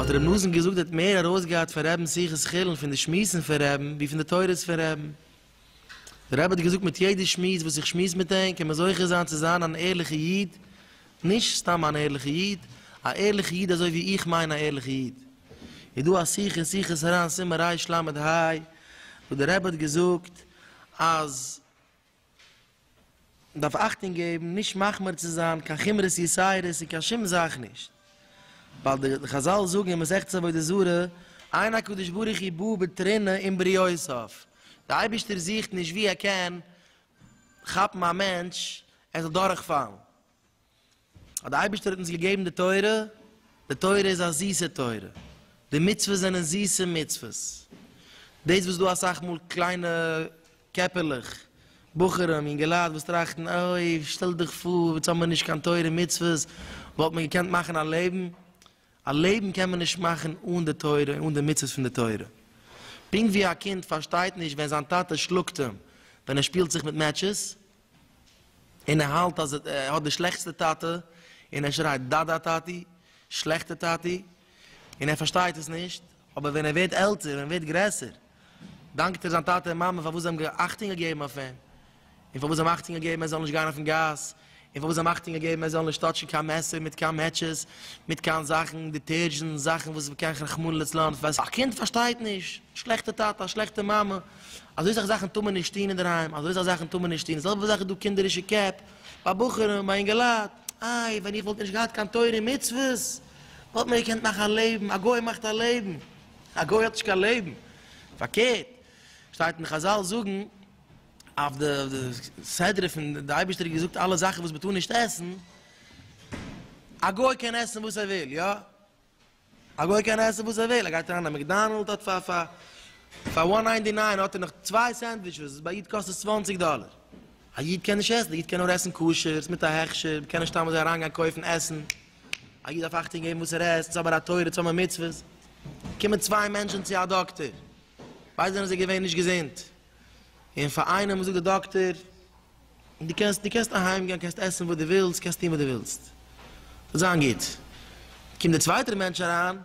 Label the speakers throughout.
Speaker 1: האט רבי נתן געזאגט ער האט מער ארויסגעהאט פון רבינ'ס שיחות חולין פון די שמועסן פון רבי'ן ווי פון די תורות פון רבי'ן. דער רבי האט געזאגט מיט יעדע שמועס וואס איך שמועס מיט אים קען מען זוכה זיין צו זיין אן ערליכע איד, נישט סתם אן ערליכע איד, א ערליכע איד אזוי ווי איך מיין א ערליכע איד. איז דא א שיחה אין שיחות הר ן סימן רש ל ה וואס דער רבי האט געזאגט אז. מען דארף אכטונג געבן נישט מחמיר צו זיין קיין חומרות יסיירות אין קיין שום זאך נישט, ווייל די חזל זאגן אין מסכת עבודה זרה, עיין הקדוש ברוך הוא בא בתרינא אין בריותיו, די אייבערשטער זוכט נישט ווי ער קען כאפן א מענטש ער זאל דורכפאלן, אז דער אייבערשטער האט אונז געגעבן די תורה, די תורה איז א זיסע תורה, די מצוות זענען זיסע מצוות, דאס וואס דא אסאך מאל קליינע קעפערלעך, בחורים, יונגעלייט וואס טראכטן אוי שטעל דיך פאר יעצט האבן מיר נישט קיין תורה ומצוות, וואלט מען געקענט מאכן א לעבן? א לעבן קען מען נישט מאכן אן די תורה און אן די מצוות פון די תורה. פונקט ווי א קינד פארשטייט נישט ווען זיין טאטע שלאגט אים ווען ער שפילט זיך מיט מעטשעס, און ער האלט אז ער האט די שלעכטסטע טאטע, און ער שרייט דאדא טאטי, שלעכטע טאטי, און ער פארשטייט עס נישט, אבער ווען ער ווערט עלטער, ווען ער ווערט גרעסער, דאנקט ער זיין טאטע און מאמע פארוואס זיי האבן אכטונג געגעבן אויף אים, און פארוואס זיי האבן אכטונג געגעבן ער זאל נישט גיין אויפן גאס, און פארוואס זיי האבן אכטונג געגעבן ער זאל נישט טאטשן קיין מעסער מיט קיין מעטשעס, מיט קיין זאכן, דיטערזשענט, זאכן וואס קען רחמנא לצלן, א קינד פארשטייט נישט, שלעכטע טאטע, א שלעכטע מאמע. אזוי סאך זאכן טאר מען נישט טון אינדערהיים, אזוי סאך זאכן טאר מען נישט טון, די זעלבע זאך איז דא קינדערישע קעפ ביי בחורים, ביי אינגעלייט, איי ווען איך וואלט נישט געהאט קיין תורה און מצוות, וואלט מען געקענט מאכן א לעבן, א גוי מאכט א לעבן, א גוי האט נישט קיין לעבן, פארקערט שטייט אין חזל זאגן אויף די סדרה פון די אייבערשטער האט געזאגט אלע זאכן וואס מען טאר נישט עסן, א גוי קען עסן וואס ער וויל, יא? א גוי קען עסן וואס ער וויל, ער גייט אריין אין א מעקדאנעלד האט פאר פאר פאר וואן ניינטי ניין האט ער נאך צוויי סענדוויטשעס וואס ביי איד קאסט עס צוואנציג דאלער, א איד קען נישט עסן, א איד קען נאר עסן כשר'ס מיט א הכשר, מ'קען נישט סתם אזוי אריינגיין קויפן עסן, א איד דארף אכטונג געבן וואס ער עסט, ס'איז אבער א תורה, צו האבן א מצוה, קומען צוויי מענטשן צו א דאקטער, ביידע זענען זיי געווען נישט געזונט, און פאר איינעם זאגט די דאקטער. און דו קענסט, דו קענסט אהיים גיין, קענסט עסן וואס דו ווילסט, קענסט טון וואס דו ווילסט, וועט זיין גוט. קומט דער צווייטער מענטש אריין,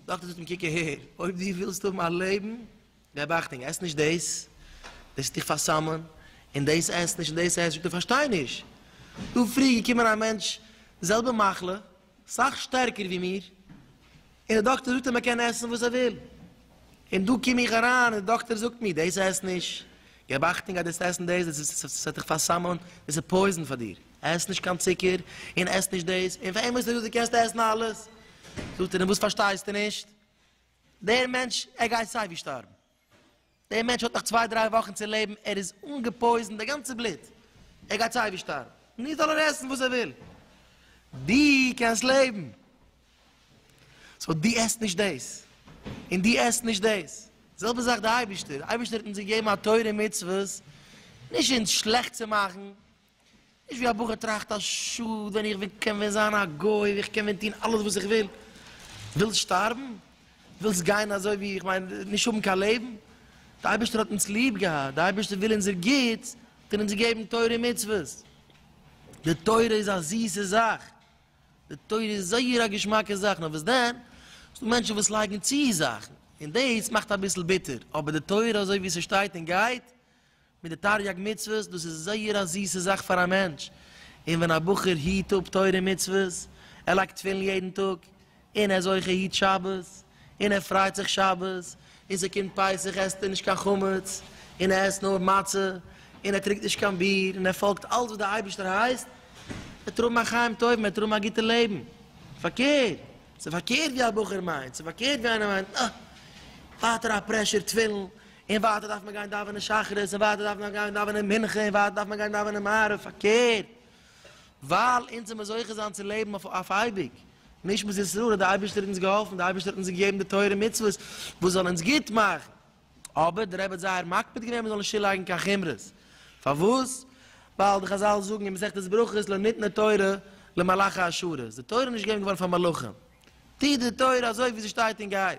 Speaker 1: דאקטער זאגט אים, קוק אהער, אויב דו ווילסט האבן א לעבן, געב אכטונג, עס נישט דאס, דאס וועט דיך פאר'סמ'ן, און דאס עס נישט, און דאס עס, זאגט ער, כ'פארשטיי נישט, דא פריער געקומען א מענטש, זעלבע מחלה, סאך שטערקער ווי מיר, און די דאקטער זאגט אז מען קען עסן וואס ער וויל, און דא קום איך אריין און די דאקטער זאגט מיר דאס עס נישט, געב אכטונג אז דו עסן דאס, דאס וועט דיך פאר'סמ'ן, דאס איז פויזן פאר דיר, עס נישט קיין צוקער, און עס נישט דאס, און פאר עמער זאגט ער דו קענסט עסן אלעס, זאגט ער און וואס פארשטייסטו נישט, דער מענטש ער גייט סיי ווי שטארבן. דער מענטש האט נאך צוויי דריי וואכן צו לעבן, ער איז אנגעפויזענט, די גאנצע בלוט, ער גייט סיי ווי שטארבן, נו זאל ער עסן וואס ער וויל, דו קענסט לעבן, סאו דו עסט נישט דאס, און דו עסט נישט דאס, די זעלבע זאך די אייבערשטער, די אייבערשטער האט אונז געגעבן א תורה ומצוות, נישט אונז שלעכט צו מאכן, נישט ווי א בחור טראכט אז שאד ווען איך ווען קען ווען זיין א גוי ווי איך קען ווען טון אלעס וואס איך וויל. ווילסט שטארבן? ווילסט גיין אזוי ווי איך מיין נישט האבן קיין לעבן? די אייבערשטער האט אונז ליב געהאט, די אייבערשטער וויל אונזער גוטס, האט ער אונז געגעבן תורה און מצוות. די תורה איז א זיסע זאך, די תורה איז זייער א געשמאקע זאך, נאר וואס דען ס'דא מענטשן וואס לייגן צו זאכן און דאס מאכט אביסל ביטער, אבער די תורה אזוי ווי ס'שטייט און גייט מיט די תריג מצוות, דאס איז זייער א זיסע זאך פאר א מענטש, און ווען א בחור היט אפ תורה און מצוות, ער לייגט תפילין יעדן טאג, און ער איז אויך ער היט שבת, און ער פרייט זיך שבת, און ס'קומט פסח עסט ער נישט קיין חמץ, און ער עסט נאר מצה, און ער טרונקט נישט קיין ביר, און ער פאלגט אלץ וואס דער אייבערשטער הייסט, וועט ער האבן א חיים טובים, וועט ער האבן א גוטע לעבן. פארקערט, ס'איז פארקערט ווי א בחור מיינט, ס'איז פארקערט ווי איינער מיינט, אה, ווייטער א פרעשור תפילין, און ווייטער דארף מען גיין דאווענען שחרית, און ווייטער דארף מען גיין דאווענען מנחה, און ווייטער דארף מען גיין דאווענען מעריב, פארקערט, ווייל אונז זעמיר זוכה זיין צו לעבן אויף אויף אייביג, נישט מיט ישראל, האט די אייבערשטער אונז געהאלפן, די אייבערשטער האט אונז געגעבן די תורה און מצוות וואס זאל אונז גוט מאכן, אבער די רבי האט זייער מקפיד געווען מ'זאל נישט צולייגן קיין חומרות, פארוואס? ווייל די חזל זאגן אין מסכת ברכות לא ניתנה תורה למלאכי השרת, די תורה איז נישט געגעבן געווארן פאר מלאכים, טוט די תורה אזוי ווי זי שטייט און גייט,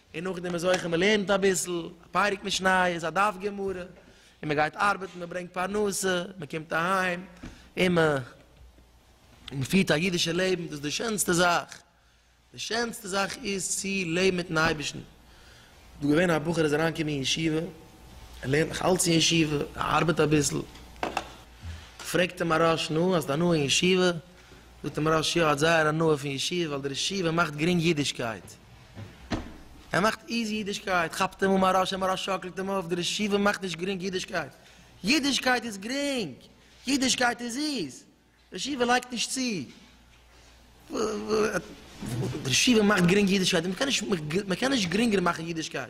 Speaker 1: און נאכדעם איז אויך אז מ'לערנט אביסל א פרק משניות, א דף גמרא, און מ'גייט ארבעטן, מ'ברענגט פרנסה, מ'קומט אהיים, און מ'פירט א אידישע לעבן, דאס איז די שענסטע זאך, די שענסטע זאך איז צו לעבן מיט'ן אייבערשטן. דא איז געווען א בחור איז אריין געקומען אין ישיבה, ער לערנט נאך אלץ אין ישיבה, ער ארבעט אביסל, פרעגט אים א ראש, נו, האסט הנאה אין ישיבה? זאגט אים ראש, יא, האט זייער הנאה פון ישיבה, ווייל דער ישיבה מאכט גרינג אידישקייט. ער מאכט איזי אידישקייט, כאפט אים אן א רשע, מרא שאקלט אים אויף, די רשעים מאכט נישט גרינג אידישקייט, אידישקייט איז גרינג, אידישקייט איז זיס, רשעים לייגט נישט צו, רשעים מאכט גרינג אידישקייט, מען קען נישט גרינגער מאכן אידישקייט,